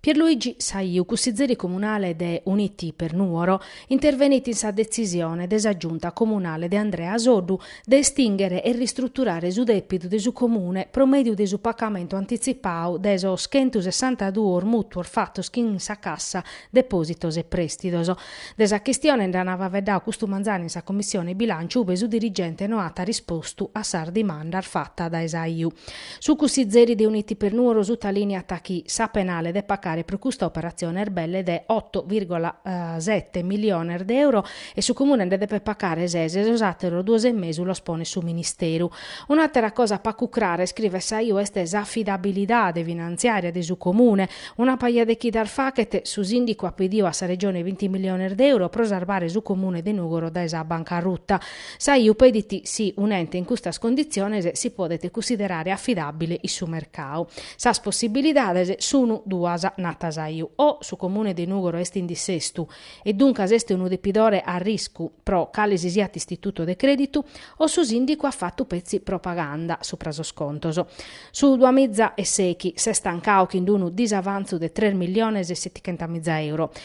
Pierluigi Saiu, cussizeri comunale de Uniti per Nuoro, intervenit in sa detzisione de sa Giunta comunale de Andrea Soddu de estinghere e ristruturare su depidu de su Comune pro mèdiu de su pacamentu antitzipau de sos chentusessantaduos mùtuos fatos chin sa Cassa depòsitos e prèstidos. De sa chistione nd'an faeddadu custu manzanu in sa Commissione Bilànciu ue su dirigente no at rispostu a sas dimandas fatas dae Saiu. Su cussizeri de Uniti per Nuoro sutaliniat chi sa penale de pacare pro custa operatzione est belle de oto virgola sete miliones de euro e su Comune nde depet pacare ses e sos àteros duos e mesu los ponet su Ministeru. Un'àtera cosa pacu crara, iscrivet Saiu, est s'afidabilidade finantziària de su Comune. Una paja de chidas fachet, su Sìndicu at pediu a sa Regione binti miliones de euro pro sarbare su Comune de Nùgoro dae sa bancaruta. Saiu pedit si un'ente in custas conditziones si podet cunsiderare afidàbile in su mercau. Sas possibilidades sunu duas, nat Saiu, o su Comune de Nùgoro est in dissestu e duncas est unu depidore a riscu pro cale si siat istituto de crèditu, o su sìndicu at fatu petzi propaganda supra sos contos. Su Duamiza e sete s'est tancau chin unu disavantzu de tres milliones e setichentamiza euro.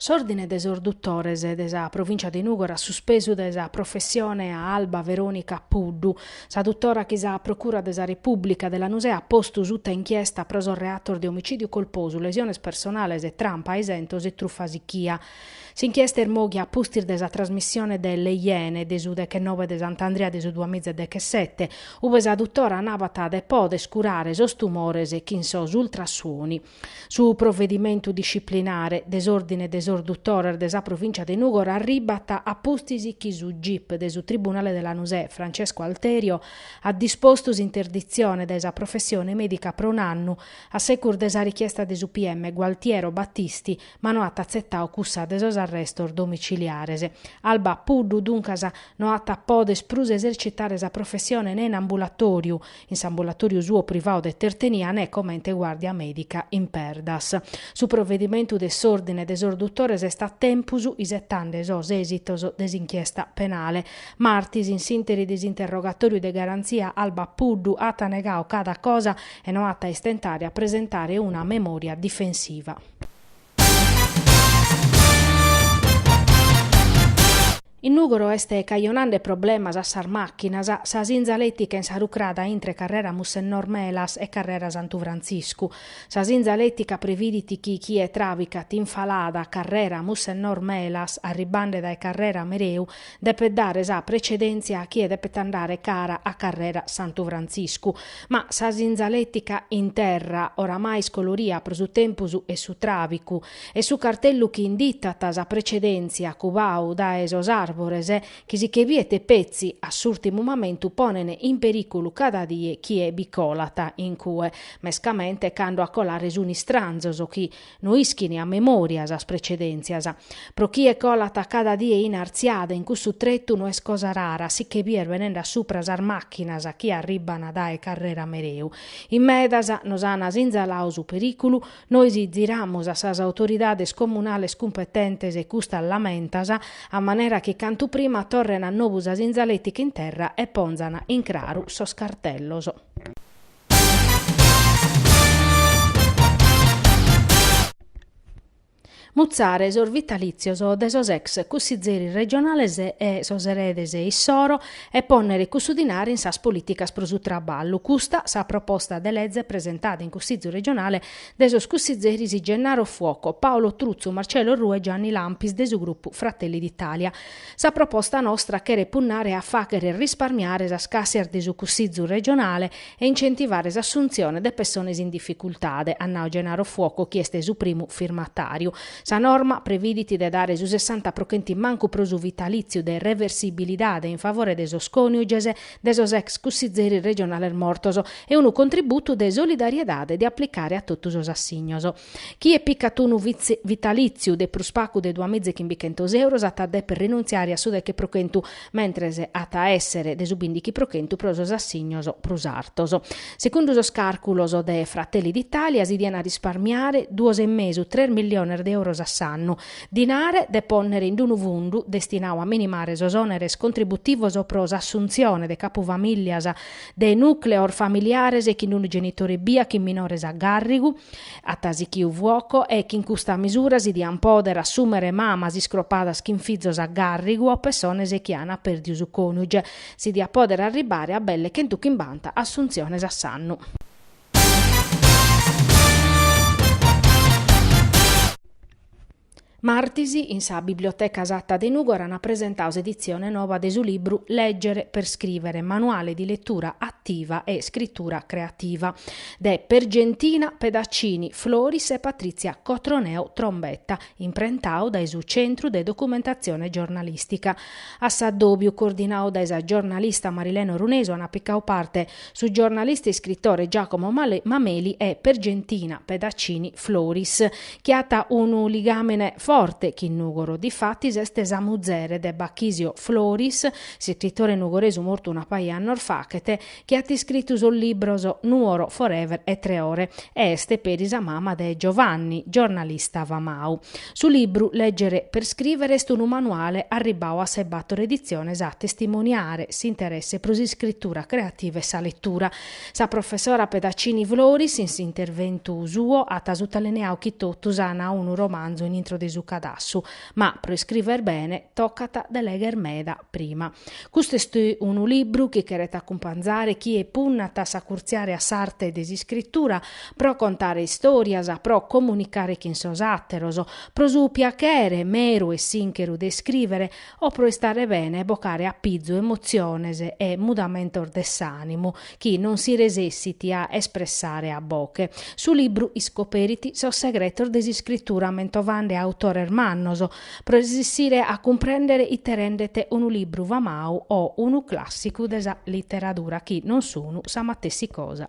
S'Òrdine de sos Dutores de sa Provìncia de Nùgoro at suspesu dae sa professione a Alba Veronica Puddu, sa dutora chi sa Procura de sa Repùblica de Lanusè at postu suta inchiesta pro sos reatos de omicìdiu colposu, lesiones personales, trampa a isentos e trufa sichia. S'inchiesta est mòghia a pustis de sa trasmissione de Le Iene de su dechennove de Sant'Andria de su duamiza e dechesete, ue sa dutora nabat de pòdere curare sos tumores chin sos ultrasuoni. Su provedimentu disciplinare de s'Òrdine de sos Dutores de sa Provìncia de Nùgoro arribat a pustis chi su gip de su Tribunale de Lanusè Francesco Alterio at dispostu s'interditzione dae sa professione mèdica pro un'annu a secus de sa richiesta de su PM Gualtiero Battisti ma no at atzetau cussa de sos arrestos domiciliares. Alba Puddu duncas no at a poder prus esercitare sa professione ne in ambulatoriu In s'ambulatòriu suo privau de Tertenia ne comente guàrdia mèdica in Perdas. Su provedimentu de s'Òrdine de sos Dutores est a tempus, isetande sos èsitos de s'inchiesta penale. Martis, in s'ìnteri de s'interrogatòriu de garantzia, Alba Puddu at negau cada cosa e no at a istentare a presentare una memòria difensiva. In Nùgoro est cajonande problemas a sas màchinas sa sinzalètica in sa rucrada intre carrera Mussennor Melas e carrera Santu Frantziscu. Sa sinzalètica previdit chi chie travicat in falada carrera Mussennor Melas arribande dae carrera Mereu Depet dare sa precedèntzia a chie depet andare cara a Carrera Santu Frantziscu. Ma sa sinzaletica in terra, oramai iscoloria pro su tempus e su tràbicu, e su cartellu chi inditat sa precedèntzia cubau dae sos àrbores chi si che biet petzi a s'ùrtimu mamentu ponen in perìculu cada die chie bi colat in cue, mescamente cando a colare sunt istranzos chi, No ischin a memòria sas precedèntzias. Pro chie colat cada die in artziada in cussu tretu no est cosa rara si che bìer benende a supra sas màchinas chi arribban dae Carrera Mereu. In medas nos an sinzalau su perìculu, nois ziramus a sas autoridades comunales cumpetentes e custas lamentas, a manera chi cantu prima torren a nobu sa sinzaletica in terra e ponzan in craru sos cartellos. Mutzare sos vitalìtzios de sos ex cussizeris regionales e sos eredes issoro e pònnere cussu dinare in sas polìticas pro su traballu, custa sa proposta de lege presentada in Cussìtziu regionale de sos cussizeris Gennaro Fuoco, Paolo Truzzu, Marcello Orrù e Gianni Lampis de su grupu Fratelli d'Italia. Sa proposta nostra cheret punnare a fàchere risparmiare sas càssias de su Cussizu regionale e incentivare s'assuntzione de pessones in dificultade, at nau Gennaro Fuoco chi est su primu firmatàriu. Sa norma previdit de dare su sessanta pro chentu mancu pro su vitalìtziu de reversibilidade in favore de sos còniuges de sos ex cussizeris regionales mortos e unu contributu de solidariedade de aplicare a totu sos assignos. Chie picat unu vitalìtziu de prus pacu de duamiza e chimbichentos euros at a dèpere rinuntziare a su deche pro chentu, mentres at a èssere de su bìndichi pro chentu pro sos assignos prus artos. Segundu sos càrculos de Fratelli d'Italia si diant a risparmiare duos e mesu, tres milliones de euros a s'annu, dinare de pònnere in unu fundu destinau a minimare sos òneres contributivos pro s'assuntzione de capufamìllias de nùcleos familiares chin unu genitore ebbia chin minores a gàrrigu. At sichiu Fuoco e chin custa misura si dian pòdere assùmere mamas iscropadas chin fizos a gàrrigu o pessones chi an pèrdiu su còniuge. Si diat pòdere arribare a belle chentu chimbanta assuntziones a s'annu. Martis, in sa Biblioteca Satta de Nùgoro ant presentau s'editzione noba de su libru Leggere per scrivere, Manuale di lettura attiva e scrittura creativa, de Pergentina Pedaccini Floris e Patrizia Cotroneo Trombetta, imprentau dae su Centru de Documentatzione Giornalistica. A s'addòbiu, coordinau dae sa giornalista Marilena Orunesu, ant picau parte Su giornalista e iscritore Giacomo Mameli e Pergentina Pedaccini Floris, chi at unu ligàmene forte chin Nùgoro. Difatis est sa muzere de Bachisio Floris, s'iscritore nugoresu mortu una paja 'e annos faghet, chi at iscritu sos libros Nuoro forever e Tre ore e est peri sa mama de Giovanni, giornalista famau. Su libru Leggere per scrivere est unu manuale arribbau a sas bator editziones a testimoniare s'interesse pro s'iscritura creativa e sa letura. Sa professora Pedaccini Floris, in s'interventu suo, at sutalineau chi totus an unu romanzu in intro de su cadassu, ma pro iscriver bene tocat de legher meda prima. Custu est unu libru chi cheret acumpanzare chie punnat a acurtziare a s'arte de s'iscritura, pro contare istòrias, pro comunicare chin sos àteros, pro su piachere meru e sincheru de iscrìvere o pro istare bene e bocare a pizu emotziones e mudamentos de s'ànimu chi non si resessit a espressare a boche. Su libru iscoperit sos segretos de s'iscritura mentovande autores mannos pro resessire a cumprèndere ite rendet unu libru famau o unu clàssicu de sa literadura chi non sun sa matessi cosa.